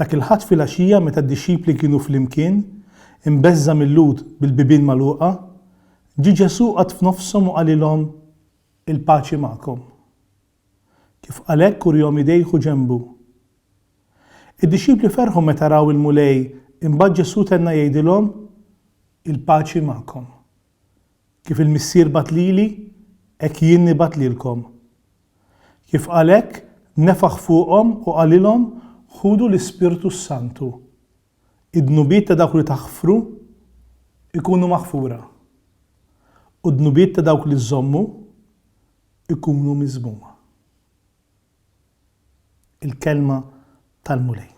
Dak il-Ħadd filgħaxija meta d-dixxipli kienu flimkien, imbeżża' mil-Lhud bil-bibien magħluqa, ġie Ġesù qagħad f'nofshom u qalilhom, Il-paċi magħkom. Kif qal hekk urihom idejh u ġenbu. Id-dixxipli ferħu meta raw il-Mulej imbagħad Ġesù tenna jgħidilhom, Il-paċi magħkom. Kif il-Missier bagħat lili, hekk jien nibgħat lilkom. Kif qal hekk, nefaħ fuqhom u qalilhom, Ħudu l-Ispirtu s-Santu. Id-dnubiet ta' dawk li taħfru jkunu maħfura, u d-dnubiet ta' dawk li żżommu jkunu miżmuma. Il-Kelma tal-Mulej.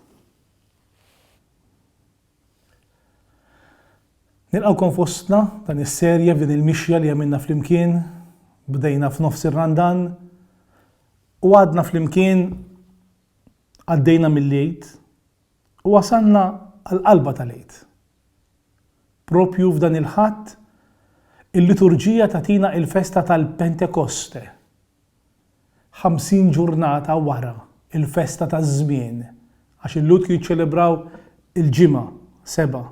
Nilqgħukom fostna f'dan is-serje f'din il-mixja li għamilna flimkien, bdejna f'nofs ir-Randan u għadna flimkien għaddejna mill-Għid u wasalna għall-qalba tal-Għid. Proprju f'dan il-Ħadd il-Liturġija tagħtina il-festa tal-Pentekoste. 50 ġurnata wara l-festa taż-żmien, għax il-Lhud jiċċelebraw il-ġimgħa seba'.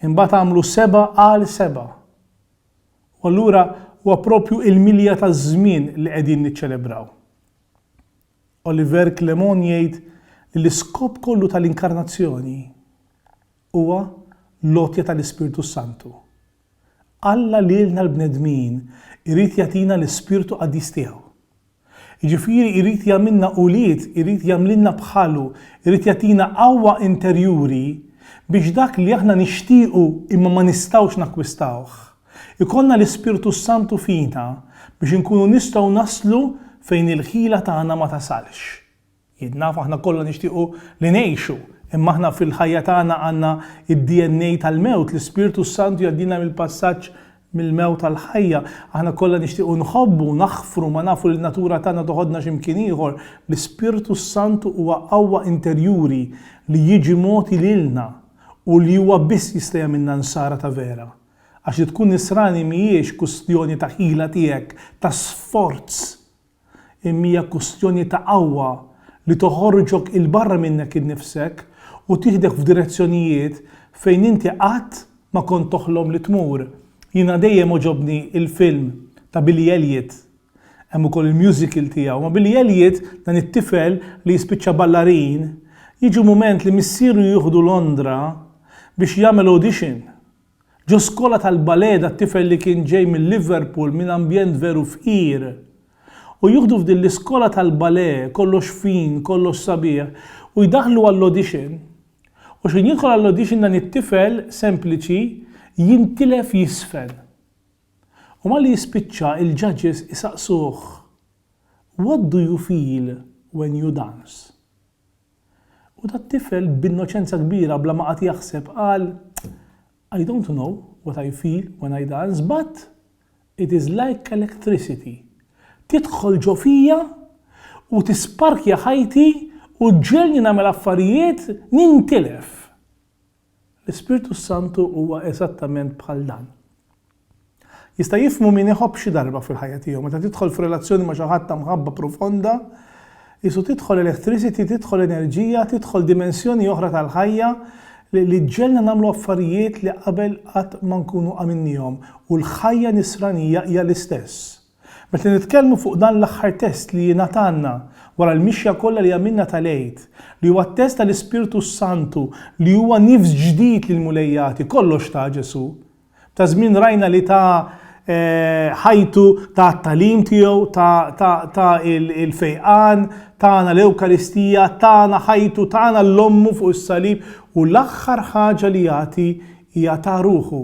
Imbagħad għamlu seba' għal seba'. U allura huwa proprju l-milja taż-żmien li qegħdin niċċelebraw. Oliver Clement jgħid li l-iskop kollu tal-Inkarnazzjoni huwa l-għotja tal-Ispirtu s-Santu. Alla lilna l-bnedmin irid jagħtina l-Ispirtu Qaddis tiegħu. Jiġifieri jrid jagħmilna ulied, irid jagħmlilna bħalu, irid jagħtina qawwa interjuri biex dak li aħna nixtiequ imma ma nistgħux nakkwistawh, ikollna l-Ispirtu s-Santu fina biex inkunu nistgħu naslu fejn il-ħila tagħna ma tasalx. Jien naf aħna kollha nixtiequ li ngħixu, imma aħna fil-ħajja tagħna għandna d-DNA tal-mewt, l-Ispirtu s-Santu jgħaddilna mill-passaġġ mill-mewt għall-ħajja. Aħna kollha nixtiequ nħobbu, naħfru, ma nafu li n-natura tagħna toħodna xi mkien ieħor. L-Ispirtu s-Santu huwa qawwa interjuri li jiġi mogħti lilna u li huwa biss jista' jagħmilna Nsara ta' vera. Għax li tkun Nisrani mhijiex kwistjoni ta' ħila tiegħek, ta' sforz imma hija kwistjoni ta' qawwa li toħorġok 'il barra minnek innifsek u tieħdek f'direzzjonijiet fejn inti qatt ma kont toħlom li tmur. Jiena dejjem għoġobni l-film ta' Billy Elliot, hemm ukoll il-musical tiegħu, ma' Billy Elliot dan it-tifel li jispiċċa ballarin, jiġu mument li missieru jieħdu Londra biex jagħmel audition. Ġo skola tal-Baleda tifel li kien ġej minn Liverpool minn ambjent veru fqir u jieħdu f'din l-iskola tal-bale kollox fin kollox sabiħ u jdaħħlu għall-audition u x'ħin jidħol għall-audition dan it-tifel sempliċi jintilef jiżfen u malli jispiċċa il-judges isaqsuh What do you feel when you dance? U dat-tifel b'innoċenza kbira bla ma qagħad jaħseb qal, I don't know what I feel when I dance but it is like electricity tidħol ġo fija u tisparkja ħajti u ġġegħelni nagħmel affarijiet nintilef. L-Ispirtu s-Santu huwa eżattament bħal dan. Jista' jifhmu min iħobb xi darba fil-ħajja tiegħu. Meta tidħol f'relazzjoni ma' xi ħadd ta' mħabba profonda, qisu tidħol electricity, tidħol enerġija, tidħol dimensjoni oħra tal-ħajja li li ġġegħelna nagħmlu affarijiet li qabel qatt ma nkunu għamilniehom. U l-ħajja nisranija hija l-istess. Meta nitkellmu fuq dan l-aħħar test li jingħatalna wara l-mixja kollha li għamilna tal-Għid, li huwa t-test tal-Ispirtu s-Santu li huwa nifs ġdid li l-Mulej jagħti, kollox tah Ġesù. Ta' żmien rajna li ta ħajtu, ta t-tagħlim tiegħu, ta ta ta l-fejqan, tana l-Ewkaristija, tana ħajtu, tana l-Ommu fuq is-salib u l-aħħar ħaġa li jagħti hija ta ruħu.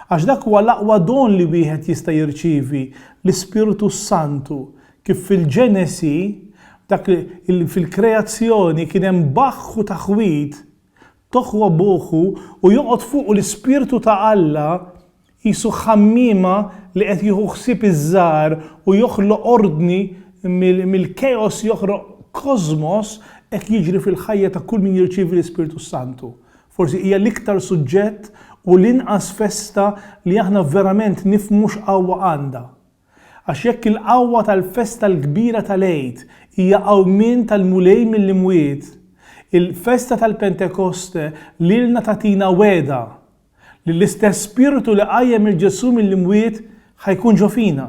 Għax dak huwa l-aqwa don li wieħed jista' jirċievi, l-Ispirtu s-Santu, kif fil-Ġenesi, dak li, fil-kreazzjoni, kien hemm baħħ u taħwid, toħu abuħu u joqgħod fuqu l-Ispirtu ta' Alla, qisu ħammiema li qed jieħu ħsieb iż-żgħar u joħloq ordni, mill-chaos joħroq kosmos, hekk jiġri fil-ħajja ta' kull min jirċievi l-Ispirtu s-Santu. Forsi hija l-iktar suġġett u l-inqas festa li aħna verament nifhmu x'qawwa għandha. Għax jekk il-qawwa tal-festa l-kbira tal-Għid hija qawmien tal-Mulej mill-imwiet, il-festa tal-Pentekoste lilna tagħtina wegħda li l-istess Spirtu li qajjem lil Ġesù mill-imwiet ħa jkun ġo fina.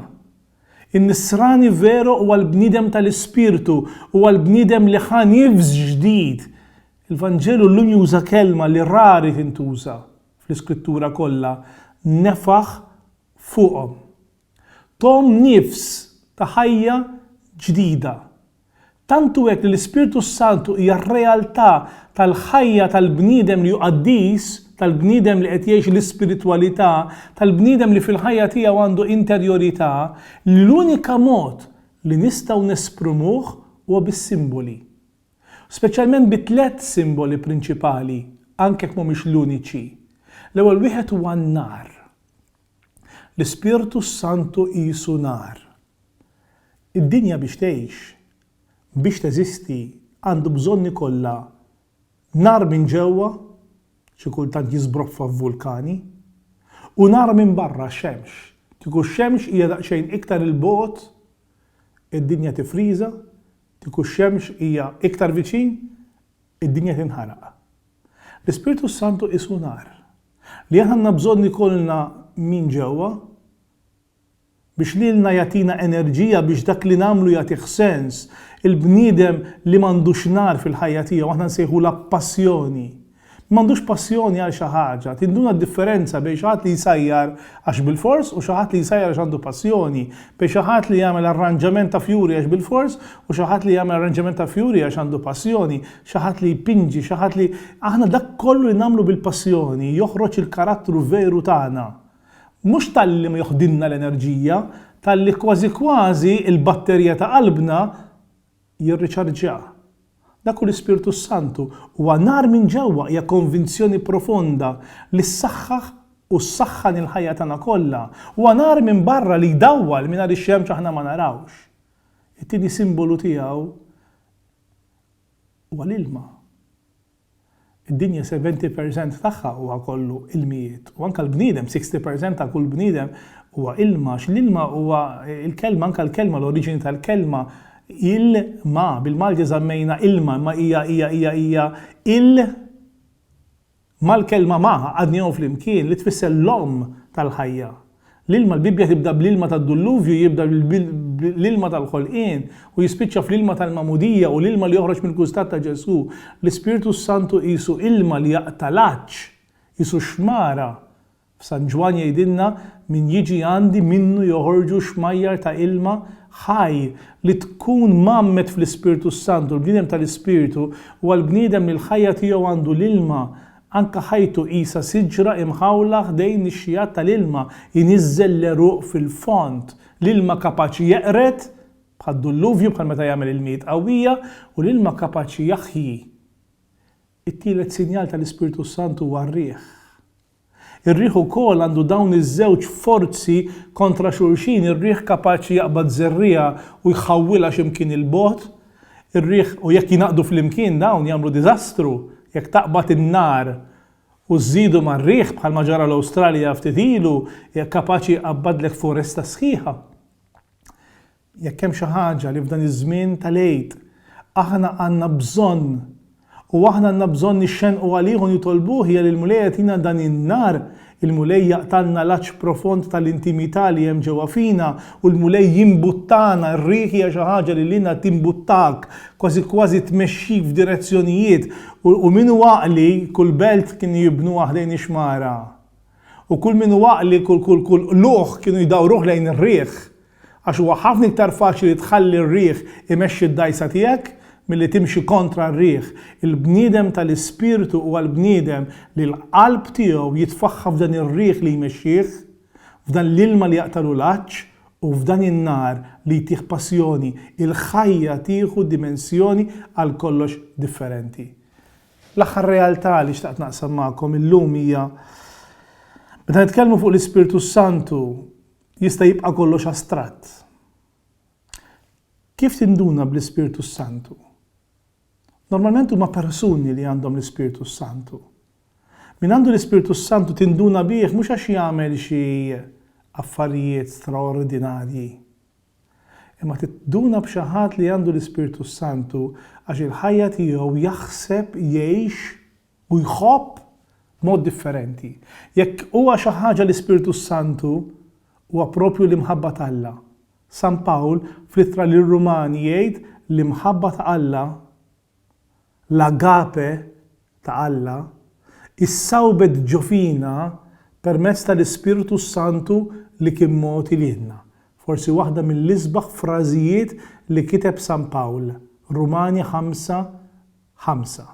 In-Nisrani veru huwa l-bniedem tal-Ispirtu, huwa l-bniedem li ħa nifs ġdid Il-Vanġelu llum juża kelma li rari tintuża fl-Iskrittura kollha, nefaħ fuqhom. Thom nifs ta' ħajja ġdida. Tant hu hekk li l-Ispirtu s-Santu hija r-realtà tal-ħajja tal-bniedem li hu qaddis, tal-bniedem li qed jgħix l-ispiritwalità, tal-bniedem li fil-ħajja tiegħu għandu interjorità, li l-unika mod li nistgħu nesprimuh huwa bis-simboli. Speċjalment bi tliet simboli prinċipali, anke jekk mhumiex l-uniċi. L-ewwel wieħed huwa n-nar. L-Ispirtu s-Santu qisu nar. Id-dinja biex tgħix, biex teżisti, għandu bżonn ikollha nar minn ġewwa, xi kultant jiżbroffa f'vulkani, u nar minn barra, xemx. Kieku x-xemx hija daqsxejn iktar 'il bogħod, id-dinja tifriża, Kieku x-xemx hija iktar viċin, id-dinja tinħaraq. L-Ispirtu s-Santu qisu nar, li aħna għandna bżonn ikollna min ġewwa biex lilna jagħtina enerġija biex dak li nagħmlu jagħtih sens. Il-bniedem li m'għandux nar fil-ħajja tiegħu aħna nsejħulha passjoni. Min m'għandux passjoni għal xi ħaġa, tinduna d-differenza bejn xi ħadd li jsajjar għax bilfors u xi ħadd li jsajjar għax għandu passjoni, bejn xi ħadd li jagħmel arranġament ta' fjuri għax bilfors u xi ħadd li jagħmel arranġament ta' fjuri għax għandu passjoni, xi ħadd li jpinġi, xi ħadd li. Aħna dak kollu li nagħmlu bil-passjoni joħroġ il-karattru veru tagħna. Mhux talli ma joħdilna l-enerġija, talli kważi kważi l-batterija ta' qalbna jirriċarġjah. Dak hu l-Ispirtu s-Santu, huwa nar minn ġewwa, hija konvinzjoni profonda li ssaħħaħ u ssaħħan il-ħajja tagħna kollha. Huwa nar minn barra li jdawwal mingħajr ix-xemx aħna ma narawhx. It-tieni simbolu tiegħu huwa l-ilma. Id-dinja seventy percent tagħha huwa kollu ilmijiet u anke l-bniedem sixty percent ta' kull bniedem huwa ilma għax l-ilma huwa l-kelma anke l-kelma l-oriġini tal-kelma il ma bil-Malti żammejna ilma imma hija hija hija hija il ma l-kelma ma għaqadnihom flimkien li tfisser l-omm tal-ħajja. L-ilma, l-Bibbja tibda bl-ilma tad-dulluvju, jibda bl-ilma tal-ħolqien, u jispiċċa fl-ilma tal-magħmudija u l-ilma li joħroġ mill-kustat ta' Ġesù. L-Ispirtu s-Santu qisu ilma li jaqta' l-għatx, qisu xmara. F'San Ġwann jgħidilna, Min jiġi għandi minnu joħorġu xmajjar ta' ilma ħaj. Li tkun mgħammed fl-Ispirtu s-Santu, l-bniedem tal-Ispirtu, huwa l-bniedem li l-ħajja tiegħu għandu l-ilma Anke ħajtu qisha siġra imħawla ħdejn ix-xjat tal-ilma jniżżel l-għeruq fil-fond. L-ilma kapaċi jeqred, bħad-dulluvju, bħal meta jagħmel ilmijiet qawwija, u l-ilma kapaċi jaħji. It-tielet sinjal tal-Ispirtu s-Santu huwa r-riħ. Ir-riħ ukoll għandu dawn iż-żewġ forzi kontra xulxin, ir-riħ kapaċi jaqbad żerriegħa u jħawwilha xi mkien 'il bogħod, ir-riħ u jekk jingħaqdu flimkien dawn jagħmlu diżastru, jekk taqbad in-nar u żżidu mar-riħ bħalma ġara l-Awstralja ftit ilu hija kapaċi jqabbadlek foresta sħiħa. Jekk hemm xi ħaġa li f'dan iż-żmien tal-Għid aħna għandna bżonn U aħna għandna bżonn nixxennqu għalih u nitolbuh hija li l-Mulej jagħtina dan in-nar, il-Mulej jaqtgħalna l-għatx profond tal-intimità li hemm ġewwa fina u l-Mulej jimbuttana, r-riħ hija xi ħaġa li lilna timbuttak, kważi kważi tmexxik f'direzzjonijiet, u min hu għaqli, kull belt kienu jibnuha ħdejn ix-xmara, u kull min hu għaqli, kull qlugħ kienu jdawruh lejn ir-riħ, Għax huwa ħafna iktar faċli li tħalli r-riħ imexxi d-dgħajsa tiegħek milli timxi kontra r-riħ. Il-bniedem ta' l-ispirtu huwa l-bniedem li l-qalb tiegħu jitfaħħa f'dan ir-riħ li jmexxih, f'dan l-ilma li jaqtagħlu l-għatx, u f'dan in-nar li jtih passjoni, il-ħajja tieħu dimensjoni għal kollox differenti. L-aħħar realtà li xtaqt naqsam magħkom illum hija meta nitkellmu fuq l-Ispirtu s-Santu, Jista' jibqa' kollox astratt. Kif tinduna bl-Ispirtu s-Santu? Normalment huma persuni li għandhom l-Ispirtu s-Santu. Min għandu l-Ispirtu s-Santu tinduna bih mhux għax jagħmel xi affarijiet straordinarji. Imma tinduna b'xi ħadd li għandu l-Ispirtu s-Santu għax il-ħajja tiegħu jaħseb jgħix u jħobb b'mod differenti. Jekk huwa xi ħaġa l-Ispirtu s-Santu, huwa proprju l-imħabba t'Alla. San Pawl fl-Ittra lir-Rumani jgħid li mħabba ta' Alla, l-agape ta' Alla, issawbet ġo fina permezz tal-Ispirtu s-Santu li kien mogħti lilna. Forsi waħda mill-isbaħ frażijiet li kiteb San Pawl, Rumani 5, 5.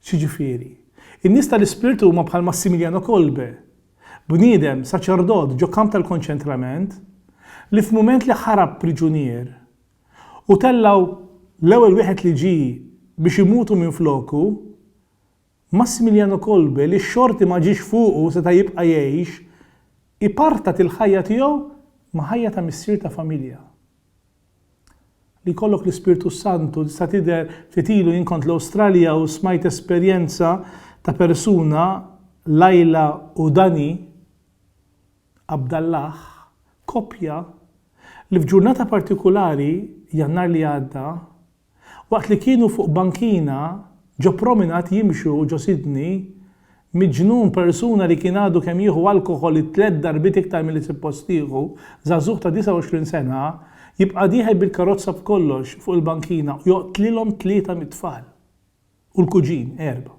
X'jiġifieri? In-nies tal-ispirtu huma bħal Massimiliano Kolbe, bniedem, saċerdot ġo kamp tal-konċentrament, li f'mument li ħarab priġunier u tellgħu l-ewwel wieħed li ġie biex imutu minfloku, Massimiliano Kolbe li x-xorti ma ġiex fuqu seta' jibqa' jgħix, ipartat il-ħajja tiegħu ma' ħajja ta' missier ta' familja. Li jkollok l-Ispirtu s-Santu tista' tidher ftit ilu jien kont l-Awstralja u smajt esperjenza ta' persuna Laila u Danny Abdallah koppja li f'ġurnata partikulari Jannar li għadda Waqt li kienu fuq bankina ġo prominat jimxu ġo Sydney, miġnun persuna li kien għadu kemm jieħu alkoħol it-tliet darbiet iktar milli suppost jieħu, żagħżugħ ta' 29 sena, jibqa' dieħel bil-karozza b'kollox fuq il-bankina u joqtlilhom tlieta mit-tfal u l-kuġin, erba'.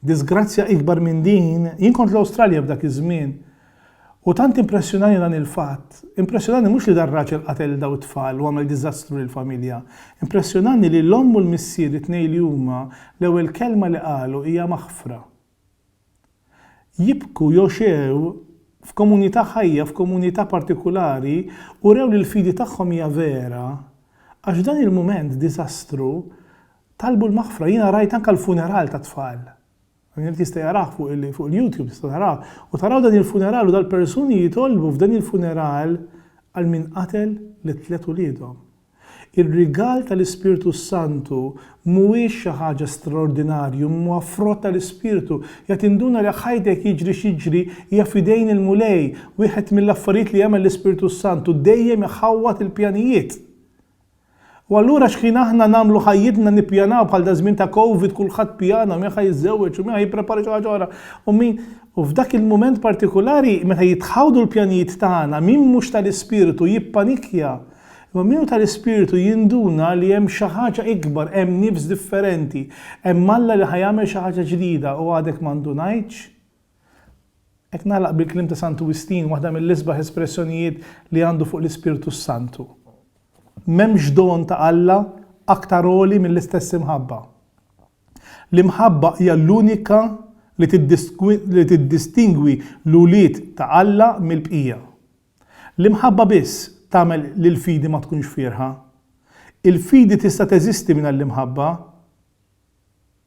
Diżgrazzja ikbar minn din, jien kont l-Awstralja f'dak iż-żmien u tant impressjonani dan il-fatt, impressjonani mhux li dan raġel qatel lil dawn it-tfal u għamel diżastru lill-familja, impressjonani li l-omm u l-missier it-tnejn li huma l-ewwel kelma li qalu hija maħfra. Jibku jogħxew f'komunità ħajja, f'komunità partikulari, urew li l-fidi tagħhom hija vera għax f'dan il-mument diżastru Talbu l-maħfra, jiena rajt anke l-funeral tat-tfal. Min irid jista' jarah fuq il-YouTube tista' taraha. U taraw dan il-funeral u dal-persuni jitolbu f'dan il-funeral għal min qatel lit-tliet uliedhom. Ir-rigal tal-Ispirtu s-Santu mhuwiex xi ħaġa straordinarju imma huwa frott tal-Ispirtu. Jgħid induna li ħajtek jiġri x'jiġri hija f'idejn il-Mulej. Wieħed mill-affarijiet li jagħmel l-Ispirtu s-Santu dejjem iħawwad il-pjanijiet. U allura xħin aħna nagħmlu ħajjitna nippjanaw bħal daż-żmien ta' Covid kulħadd pjana min ħa jiżżewweġ u min ħa jipprepara xi ħaġa oħra u min u f'dak il-mument partikulari meta jitħawdu l-pjanijiet tagħna min mhux tal-ispirtu jippanikja imma min hu tal-ispirtu jinduna li hemm xi ħaġa ikbar hemm nifs differenti hemm Alla li ħa jagħmel xi ħaġa ġdida u għadek ma ndunajtx Hekk nagħlaq bil-kliem ta' Santu Wistin, waħda mill-isbaħ espressjonijiet li għandu fuq l-Ispirtu s-Santu, M'hemmx don ta' Alla aktar għoli mill-istess imħabba. L-imħabba hija l-unika li tiddistingwi l-ulied ta' Alla mill-bqija. L-imħabba biss tagħmel li l-fidi ma tkunx fierħa. Il-fidi tista' teżisti mingħajr l-imħabba?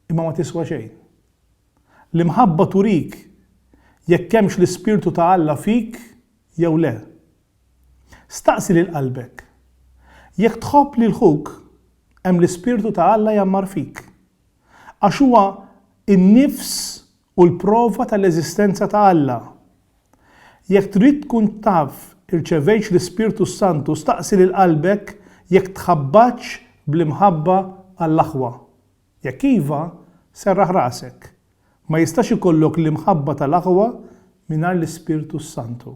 imma ma tiswa xejn. L-imħabba turik jekk hemmx l-ispirtu ta' Alla fik jew le. Staqsi lil qalbek, Jekk tħobb lil ħuk, hemm l-ispirtu ta' Alla jgħammar fik. Għax huwa n-nifs u l-prova tal-eżistenza ta' Alla. Jekk trid tkun taf irċevejtx l-Ispirtu s-Santu staqsi lil qalbek jekk tħabbatx bl-imħabba għall-aħwa. Jekk iva, serraħ rasek. Ma jistax ikollok l-imħabba tal-aħwa mingħajr l-Ispirtu s-Santu.